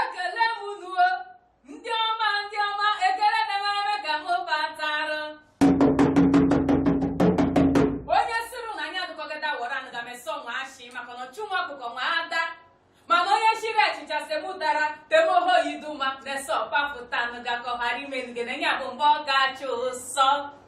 ekele m unu o ndị ọma ndị ọma ekele demereme ka m batara onye sịrị na anyị adụkọgada wara anụ ga mesọ nwa ashị maka na ọchụ nwa ọkụkọ nwe ada mana onye shiri achịcha semu dara temoho yiduma na-ese ọkpapụta anụ gakọghara ime nge na enye bụ mgbe ọ ga-achụ ụsọ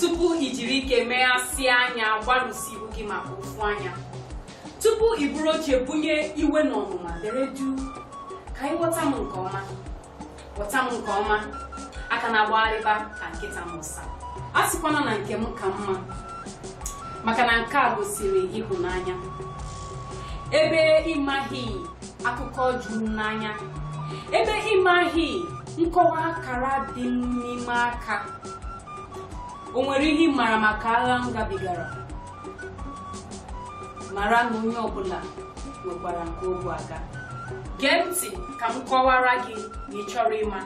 tupu i jiri ike meghasịa anya gbarụsịa ihu gị maka ofu anya tupu i buru oche bunye iwe na ọnụma dere juu ka ị ghọta m nke ọma ghọta m nke ọma aka na-agbagharịba ka nkịta m ụsa a sịkwana na nke m ka mma maka na nke a gosiri ịhụnanya ebe ịmaghị akụkọ juru m n'anya ebe ịmaghị nkọwa akara dị n'ime aka o nwere ihe ị mara maka agha m gabigara mara na onye ọbụla nwekwara nke ogwu aga gee ntị ka m kọwara gị ma ị chọrọ ịma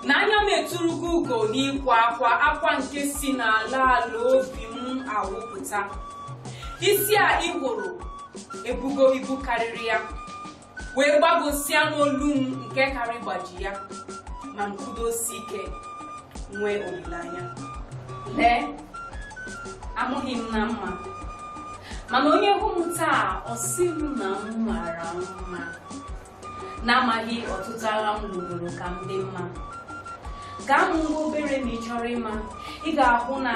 na anya m eturugo ugo n'ịkwa akwa akwa nke si n'ala ala obi m awụpụta isi a ị hụrụ ebugo ibu karịrị ya wee gbagọsịa n'olu m nke karị ịgbaji ya ma m kwudosie ike nwee olileanya lee amụghị m na mma mana onye hụ m taa ọ sị m na m mara mma n'amaghị ọtụtụ agha m lụgoro ka m dị mma gaa m nwa obere ma ị chọrọ ịma ị ga-ahụ na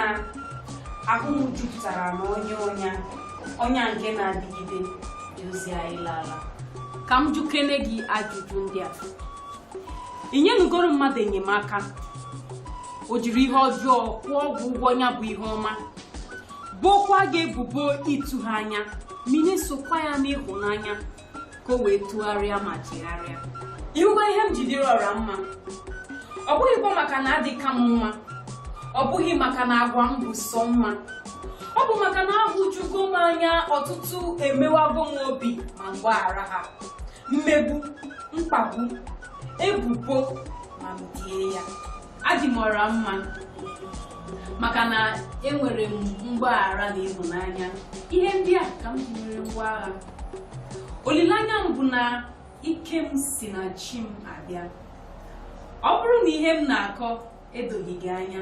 ahụ m jupụtara na ọnya ọnya nke na-adịgide dozie anyị lala ka m jụkene gị ajụjụ ndị a ị nyenugoro mmadụ enyemaka o jiri ihe ọjọọ kwụọ gị ụgwọ ya bụ ihe ọma bokwa gị ebubo ịtụ ha anya mini sokwa ya n'ịhụnanya ka o wee tụgharịa ma chegharịa ịhụgo ihe m ji dịrị ọra mma ọ bụghịkwa maka na adịka m mma ọ bụghị maka na agwa m bụ sọ mma ọ bụ maka na ahụjugo m anya ọtụtụ emewago m obi ma m gbaghara ha mmegbu mkpagbu ebubo ma m die ya adị m ọra mma maka na enwere m mgbaghara na ịhụnanya ihe ndị a ka m ji mere ngwa agha olileanya m bụ na ike m si na chi m abịa ọ bụrụ na ihe m na-akọ edoghị gị anya